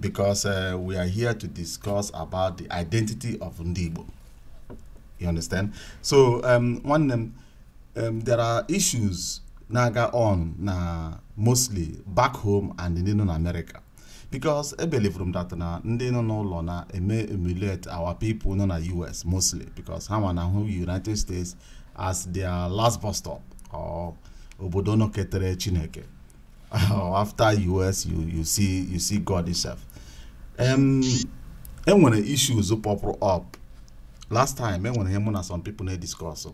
because uh, we are here to discuss about the identity of ndị Igbo you understand so um, nwanne m um, there are issues na-aga on na mostly back home and ndị nọ na America because e believe m that na ndị nọ n'ụlọ na-eme emulate our people nọ na US mostly because ha nwa na-ahụ United States as their last bus stop or obodo nọketere Chineke oh, after US you, you see you see God himself um, enwere issues pọpụrụ up last time enwere ihe mụ na some people na-ediscuss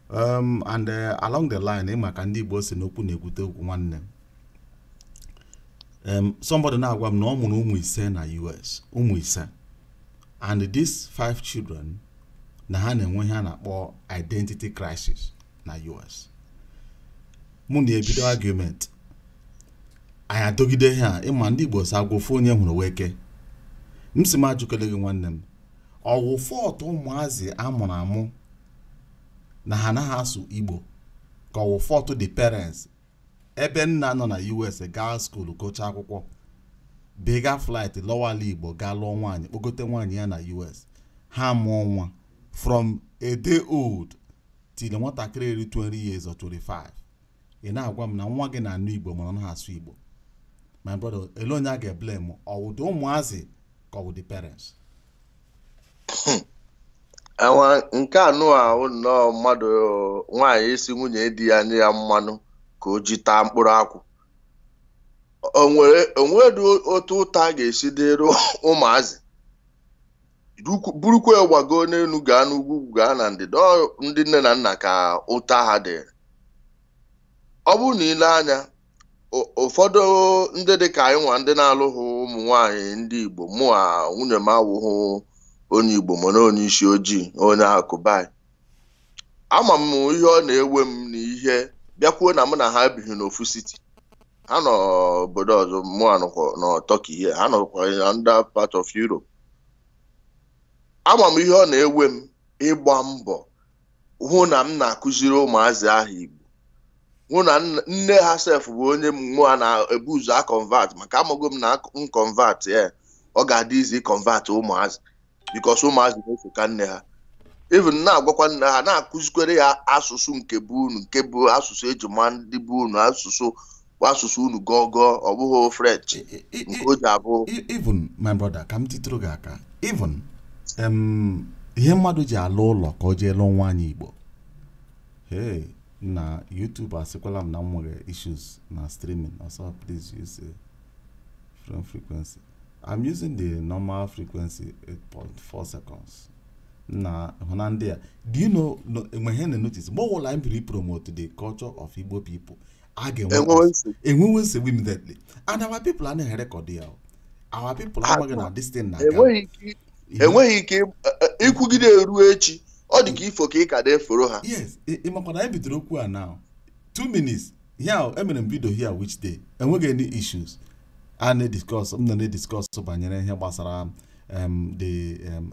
um, and uh, along the line ịma ka ndị Igbo sị na okwu na-ekwute okwu nwanne um, somebody na-agwa m na ọ mụrụ ụmụ ise na US ụmụ ise and these five children na ha na-enwe ihe a na-akpọ identity crisis na US mụ na ebido argument anyị adọgide ha ịma ndị Igbo sị agwọ ofu onye hụrụ wụ eke m sị m ajụkele gị nwanne m ọ wụ fault ụmụazị a mụrụ amụ na ha anaghị asụ Igbo ka ọ wụ fault the parents ebe nna nọ na US gaa school gụchaa akwụkwọ bega flight lọwa ala Igbo gaa lụọ nwaanyị kpọgote nwaanyị ya na US ha mụọ nwa from a day old till nwatakịrị eri 20 years or 25 ị na-agwa m na nwa gị na-anụ Igbo mana ọ naghị asụ Igbo my brother ele onye a ga-eblame ọ wụ the ụmụazị ka ọ wụ the parents awa nke anụ ahụ nnọọ mmadụ nwaanyị ịsị nwunye di ya nye ya mmanụ ka o ji taa mkpụrụ akwụ o nwedị otu ụta ga-esi dịrị ụmụazị Bukwu- burukwa ya gbagoo n'elu gaa n'ugwu gaa na ndịda ọ ndị nne na nna ka ụta ha dịrị ọ bụrụ na i lee anya ụ- ụfọdụ ndị dị ka anyị nwa ndị na-alụghị ụmụ nwaanyị ndị Igbo mụwa nwunye m awụghị onye Igbo mana onye isi ojii onye Cuba ama m ihe ọ na-ewe m na ihe bịakwuo na mụ na ha ebighị n'ofu city ha nọ obodo ọzọ mụ anọkwa na Turkey here ha nọkwa na another part of Europe ama m ihe ọ na-ewe m ịgba mbọ hụ na m na-akụziri ụmụazị ahụ Igbo hụ na nne ha sef bụ onye mụa na-ebu ụzọ aconvert maka amago m na m convert ya ọ ga-adị easy ịconvert ụmụazị because ụmụazị na-esoka nne ha even na-agwakwa nne ha na-akụzikwere ya asụsụ nke bụ unu nke bụ asụsụ e ji ma ndị bụ unu asụsụ bụ asụsụ unu gọọ gọọ ọ bụghị french nke o ji abụ even my brother ka m titụrụ gị aka even ihe mmadụ ji ala ụlọ ka o jee lụọ nwaanyị igbo hey na youtube asịkwala m na m nwere issues na streaming also please use different frequency i'm using the normal frequency 8.4 seconds ị na-ahụna ndị a do you know e nwe ihe m na-enotice mgbe ọbụla anyị biri promote the culture of igbo people a ga-enwe enwewe nsogbu immediately and our people anaghị erekọd ya our people amaghị na this thing na e nwere ike ikwugide e, e, ruo echi ọ dị ka ifo ka ị ka na-eforo ha yes ị makwa na anyị bidoro okwu a now two minutes yeah emere m vidio here which day enweghị any issues a na-ediscuss m na na-ediscuss banyere ihe gbasara um, the um,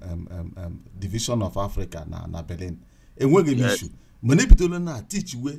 um, division of Africa na na Berlin enweghị any issue mana ebidola na teach we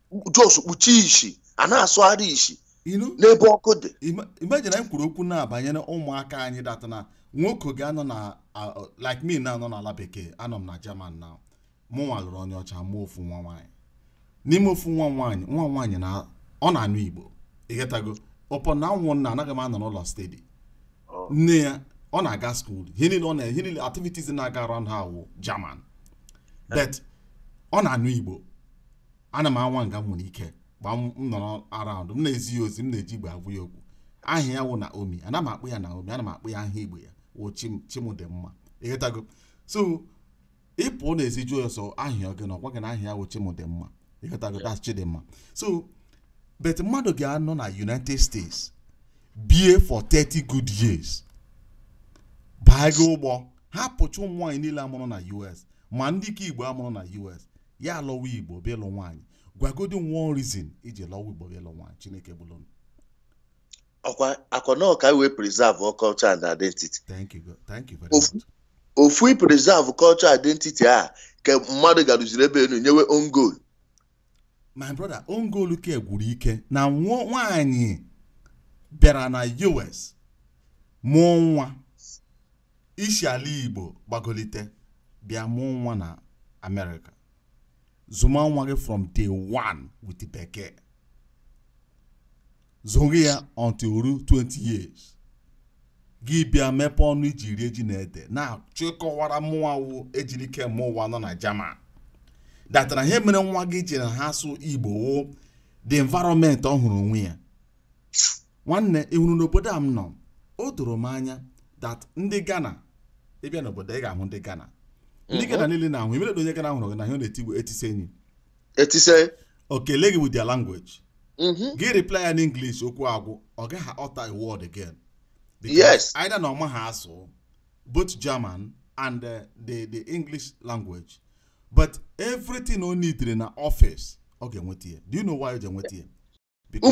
just kpuchie isi a na-asụgharị isi n'ebe ọkụ dị imagine anyị kwuru okwu na-abanyere ụmụaka anyị data na nwoke ga-anọ now like me now nọ n'ala bekee anọ m na German now mụ nwa lụrụ onye ọcha mụọ ofu nwa nwaanyị n'ime ofu nwa nwaanyị nwa nwaanyị na ọ na-anụ Igbo ị getago upon na m wụ nna anaghị m anọ n'ụlọ steady oh. nne ya ọ na-aga skuul ihe niile ọ na-ihe niile activities na-aga around ha wụ German eh. but ọ na-anụ Igbo ana m anwa nga m nwere ike ma m nọrọ around m na-ezi ya ozi m na-eji igbo agwa ya okwu aha ya wụ naomi anaghị m akpọ ya naomi ana m akpọ ya aha igbo ya wụ chimdịmma ị getago so ị pụọ n'ezi jụọ ya sị aha gị na ọ gwa gị na aha ya wụ chimdịmma ị getago that's chidimma so but mmadụ ga-anọ na united states bie for 30 good years baa gị ụgbọ hapụcha ụmụ nwaanyị niile a mụrụ na us ma ndị nke igbo a mụrụ na us ya alọwa igbo bịa ịlụ nwaanyị gwagodi m one reason i ji lọwa igbo bịa ịlụ nwaanyị chineke bụrụ unu. ọkwa na ọ ka e wee preserve our culture and identity thank you go- thank you very Ofu- much ofu i preserve culture identity a ka mmadụ garuziri ebe enu nyewe own goal my brother own goal nke gwuru ike na nwa nwaanyị bịara na us mụọ nwa i si ala Igbo gbagolite bịa mụọ nwa na Amerịka zụma nwa gị from day one with bekee zụrụ ya until o ruo 20 years gị bịa mepee ọnụ i ji rie ji na ede na-achọ ịkọwara mụnwa wụ Ejirikemeụwa nọ na German datara ihe mere nwa gị ji anaghị asụ igbo wụ the environment ọ hụrụ onwe ya nwanne ị hụrụ n'obodo a m nọ o doro m anya that ndị Ghana ị bịa n'obodo ị ga-ahụ ndị Ghana ndị Ghana niile na-ahụ immediately onye Ghana hụrụ gị na ihe ọ na-eti bụ etise enyi etise o kelee gị with their language mhm. gị reply ya n'English okwu agwụ ọ gaghị utter a word again Because Yes. either na ọ maha asụ both German and uh, the the English language but everything o needre na office ọ ga-enweta ya do you know why ọ ga-enweta ya Because